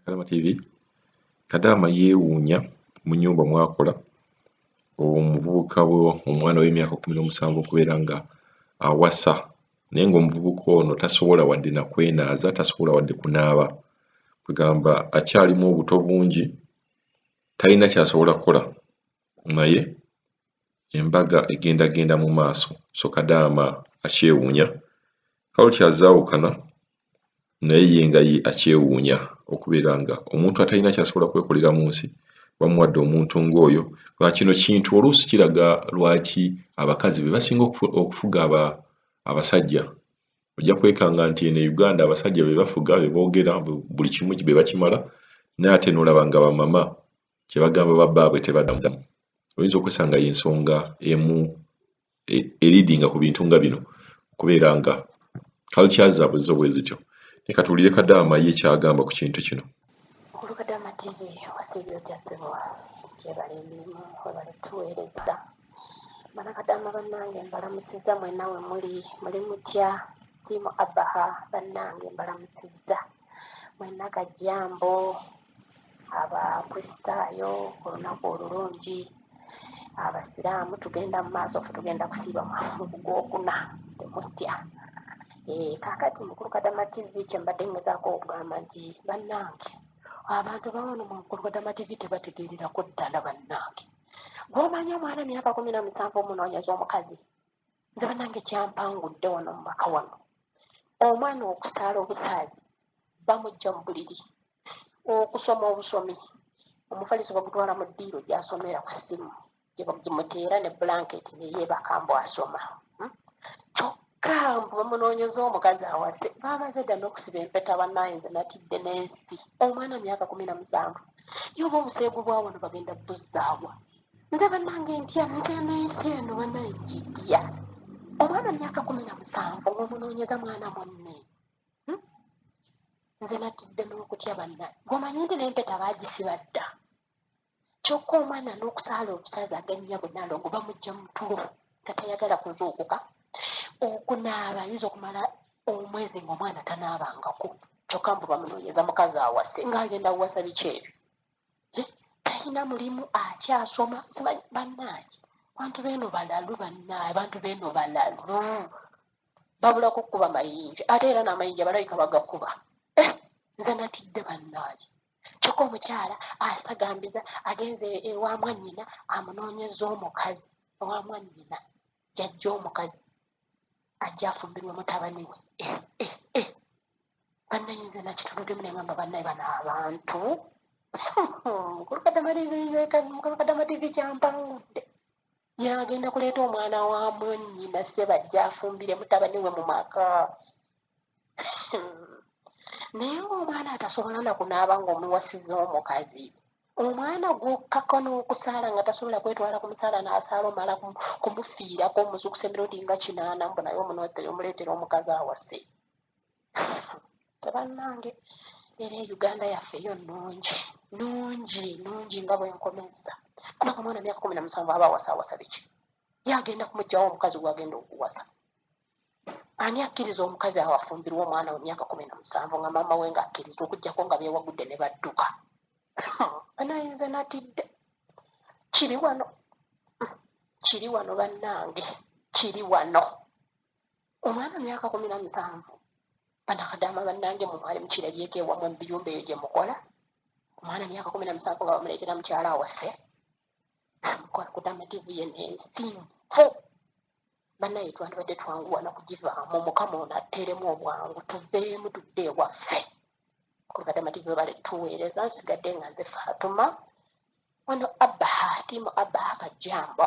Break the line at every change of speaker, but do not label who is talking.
Kalama TV Kadaama yeewuunya mu nnyumba mwakola omuvubuka we omwana w'emyaka kkumi n'omusanvu okubeera nga awasa naye ng'omuvubuka ono tasobola wadde na kwenaaza tasobola wadde kunaaba kwegamba akyalimu obuto bungi talina kyasobola kukola naye embaga egenda genda mu maaso so Kadaama akyewuunya. Carloti azze awukana naye ye nga ye akyewuunya okubeera nga omuntu atalina kyasobola kwekolera mu nsi bamuwadde omuntu ng'oyo nga kino kintu oluusi kiraga lwaki abakazi be basinga okufuga aba abasajja ojja kwekanga nti eno e Uganda abasajja be bafuga be boogera buli kimu be bakimala naye ate n'olaba nga bamama kyebagamba ba baabwe tebadamu oyinza okwesanga yensonga emu e, elidinga ku bintu nga bino okubeera nga kalkya zaabwe zo bwe zityo ne katuwulire kadaama ye kyagamba ku kintu kino kulu kadaama
tv wasiibye otya ssebo gyebala emirimu webale tuweereza bana kadaama bannange mbalamusizza mwenawe muli muli mutya tiimu abaha bannange mbalamusizza mwenna kajjambo abakristaayo olunaku olulungi abasiraamu tugenda mu maaso fe tugenda kusiiba mugwokuna temutya eh, kakati mukulu kadama tv kyembadde ngezaako okugamba nti bannange abantu bawano mukulu kadama tv tebategeererako ddala bannange gwomanya omwana myaka kumi na musanvu omunoonyeza omukazi nze banange kyampangudde wano mu maka wano omwana okusaala obusaazi bamujja mu buliri okusoma obusomi omufaliso bagutwala mu ddiiro gyasomera ku ssimu gyemuteera ne bulanketi neyeebaka mbu asoma hmm? kyokka mbu bamunoonyeza omukazi awase baamaze dda n'okusiba empeta banaayinza natidde n'ensi omwana myaka kumi na musanvu yoba obuseegu bwawano bagenda buzzaawa nga banange ntya mugenda ensi eno banaye gidya omwana myaka kumi na musanvu omunoonyeza mwana munne hmm? nze natidde n'okutya banna gomanyi nti nempeta bagisiba dda kyokka omwana n'okusaala obusaza agannya bunalongo bamujja mutulo nga tayagala kuzuukuka okunaaba ayinza okumala omwezi ngaomwana tanaabangako kyokka mbu bamunoonyeza mukazi awase ng'agenda awasa biki ebyo talina mulimu akyasoma simanyi bannange abantu beeno balalu bannange abantu beeno balalu babulako okukuba mayinja ate era n'amayinja balabika bagakuba eh, nze natidde bannange kyokka omukyala asagambiza agenze ewa mwannyina amunoonyeza omukazi owa mwannyina jajja omukazi ajja afumbirwe mutabani we eh, eh, banaye nze nakituludemu nengamba banaye bana abantu mukulu kadama tv kyampangudde yagenda kuleeta omwana wa mwanyina sebajja afumbire mutabani we mu maka naye ngaomwana atasobola nakunaaba ngaomuwasiza omukazi omwana gwokkako n'okusaala nga tasobola kwetwala ku musaala n'asaala omala kumufiirako omuzuukusa emirundi nga kinaana mbu naye omunotere omuleetera omukazi awase tebanange era e uganda yaffe yo nungi nungi nungi nga bwenkomezza kubanga omwana myaka kumi namusanvu aba awasa awasa biki ye agenda kumugjawo omukazi gwagenda okuwasa ani akkiriza omukazi awo afumbirwa omwana we myaka kumi namusanvu nga maama we nga akkiriza okugjako nga bewagudde ne badduka anayinze natidde kiri wano kiri wano bannange kiri wano omwana myaka kumi na musanvu banakadaama bannange mwe mwali mukirabyeko ewamwe mu biyumba eyo gye mukola omwana myaka kumi na musanvu nga bamuleetera mukyala awase amukola kutamativu ye nensi nfu banaye twandibadde twanguwa nokugivaamu mukama ono atteeremu obwangu tuveemu tudde ewaffe kubatamativu webale tuweereza nsigadde nga nze faatuma wano abaha tiimu abaha kajjamba